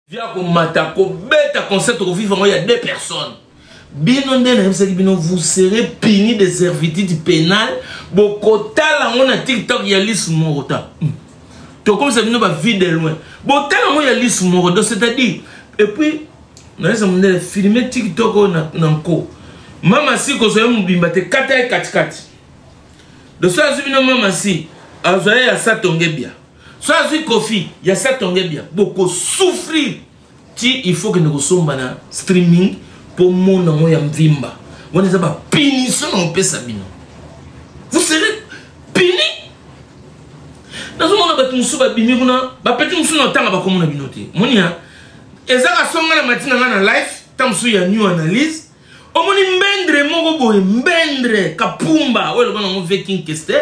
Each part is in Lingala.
via komata kobeta concert okovivre yango ya deux personnes bino nde nayebisaki bino vous serez puni de servitude pénale bokotala yango na tiktok ya lisu moko ta hmm. tokomisa bino bavie de loin botala yango ya lisu moko do c'est-à-dire epuis nayesa mondele filme tiktok oyo na nko mama si kozwa ye mobimba te kata ye katikati doso azwi bino mama si azwa ye ya satongebia so azwi kofi ya satonge bia bokosouffrir ti il faut kende kosomba na streaming mpo mona yango ya mvimba wana eza bapunition na kopesa bino vous serez puni nazomona bato mosusu babimi kuna bapeti mosusu na otanga bakomona bino te moni ya eza kasonga na matina ngai na life ntango mosusu ya new analyse omoni mbendre moko boye mbendre kapumba oyo eloba nango veking kester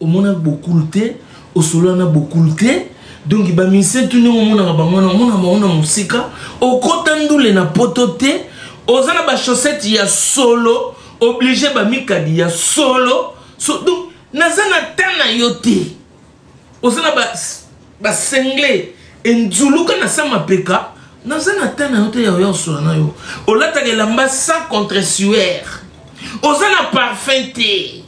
omona bokulu te osolola na bokulu te donk bamise tuni omonaka bango wana omona bango na mosika okota ndule na poto te oza na bachaussette ya solo oblige bamikadi ya solo so, donc naza na temps na yo te oza na basengle enzuluka na sa mapeka naza na temps na yo te ya oya osola na yo olataka elamba sans contre suaire oza na parfum te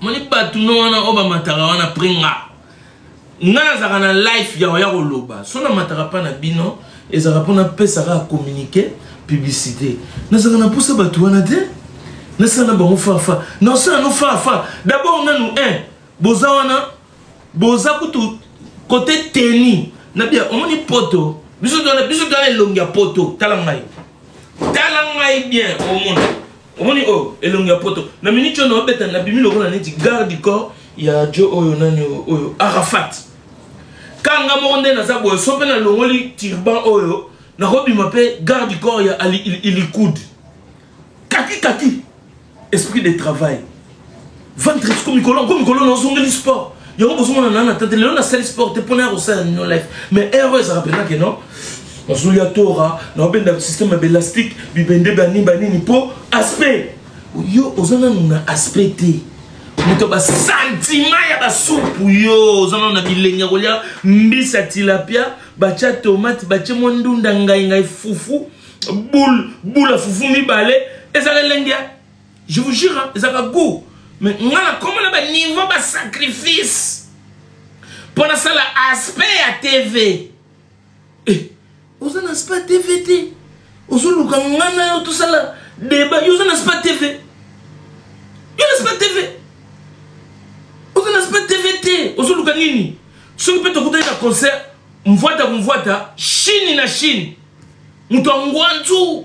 moni bato no wana oyo bamataka wana pre nga nga nazalaka na life ya oya koloba so namataka mpa na bino ezalaka mpo napesa kaka communiqué publicité nazalaka na mposa bato wana te nasala na bango fafa nasala no fafa dabord nanu un eh, boza wana boza kutu kote teni na bia omoni poto biso twana biso twana elongi ya poto tala ngai tala ngai bien omona omoni oyo oh, elongi ya poto na miniti oyo naobeta nabimi lokola neti garde du corps ya jo oyo nani oyo arafat kanga moko nde naza boye so mpe nalongoli turban oyo nakobima mpe garde du corps ya ali ilikud kaki kaki esprit de travail ventres komikolo komikolo na ozongeli sport yango bozomona nana tante lelo nasali sport te mpona ya kosala nino life mais heure oyo ezalaka mpenza ke non nazolia tora naobenda système ya belastique bibende banini banini mpo aspect yo oza nanu na aspect te moto ya basantima ya basupu yo oza nanu na bilengi ya kolia mbisi ya tilapia batya tomate batye mwa ndunda ngaingai fufu bule bule ya fufu mibale ezala elengi ya je vous jure hein, ezalaka goût mais nga nakomona baniveau basacrifice mpo nasala aspect ya tv eh, oza na aspect ya tv te ozoluka nga na yo tosala deba yo oza na aspect tv yo na aspect tv oza na aspect tv te ozoluka nini soki mpe tokutani na concert mvwata kumvwata chine na chine moto ya ngwanzu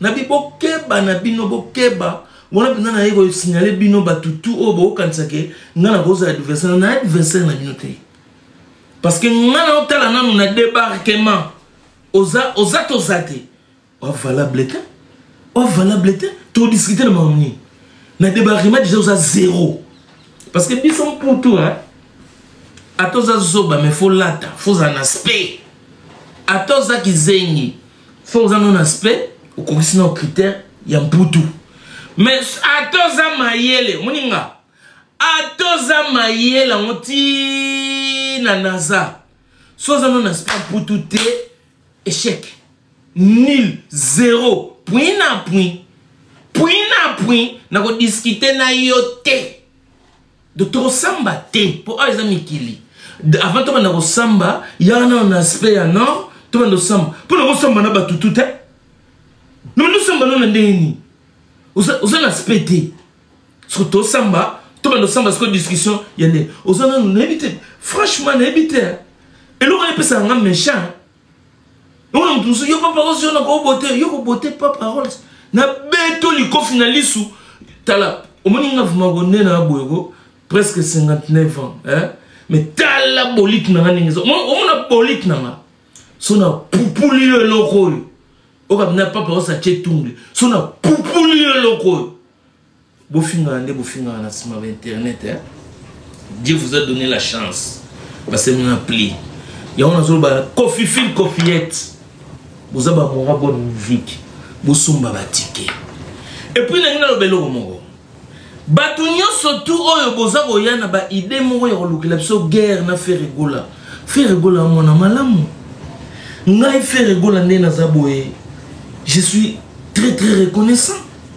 nabi bokeba na bino bokeba wana mpenza naye kosignale bino bato tu oyo bokokanisa ke ngai nakozala adversaire na adversaire na bino te parce que ngai naotala nanu na débarquement oza oza toza te ovalable te ovalable te todiscute na makambo nini na débarquement déjà oza zéro parce que biso mputu ata oza zoba mais fo lata fozala na spe ata oza kizengi fo oza nano aspect okokisi nao critère ya mputu mais ata oza mayele omoni nga ata oza mayele yango ti na naza so oza nano aspect ya mputu te échec nul zero point na point point na point nakodiskute na yo te donc tokosamba te mpo awa eza mikili avant tobanda kosamba yaka nano na aspect ya nord tobanda kosamba mpo na kosamba na bato tu te nobanda osamba no na ndenge nini oza na aspect te soki tosamba tobanda kosamba sikoyo discussion ya ndenge oza nano nayebi te franchement nayebi te eloko epesaka nga méchant Yo na mutu mususu yo papa ozo na ko bote yo ko bote pa paroles na beto likofi na lisu tala omoni nga vuma ko nde na boyeko presque 59 ans hein mais tala bolite na nga ndenge eza omona bolite na nga so na pupuli yo eloko oyo okabina papa osa tie tungle so na pupuli yo eloko oyo bofingana nde bofingana na nsima ba internet eh? dieu vous a donné la chance basemi na pli yango nazoloba kofi fil kofiyete boza bamora bonne musique bosomba batike epuis nangi naloba eloko moko bato nyonso tu oyo boza koya na baide moko ya kolukela biso guerre na feregola feregola mwana malamu ngai feregola nde naza boye je suis très très reconnaissant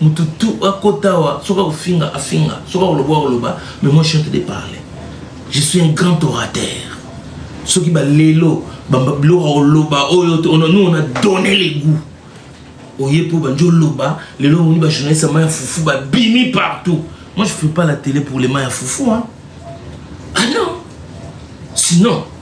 mutu tu akota awa soki akofinga afinga soki akoloba akoloba mais moi chante de parler je suis un grand orateur soki balelo biloko akoloba oyo nous on a donné les goûts oye mpo bandi oloba lelo omoni bajournaliste ya mai ya fufu babimi partout moi je fais pas la télé pour les mai ya fufu hein? ah non sinon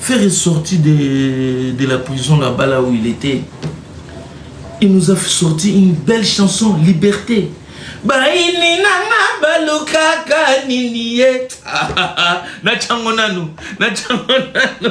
Ferre est sorti de, de la prison là-bas là où il était. Il nous a sorti une belle chanson, Liberté. baini nanga balukaka nini ye natyango nanu natyango nanu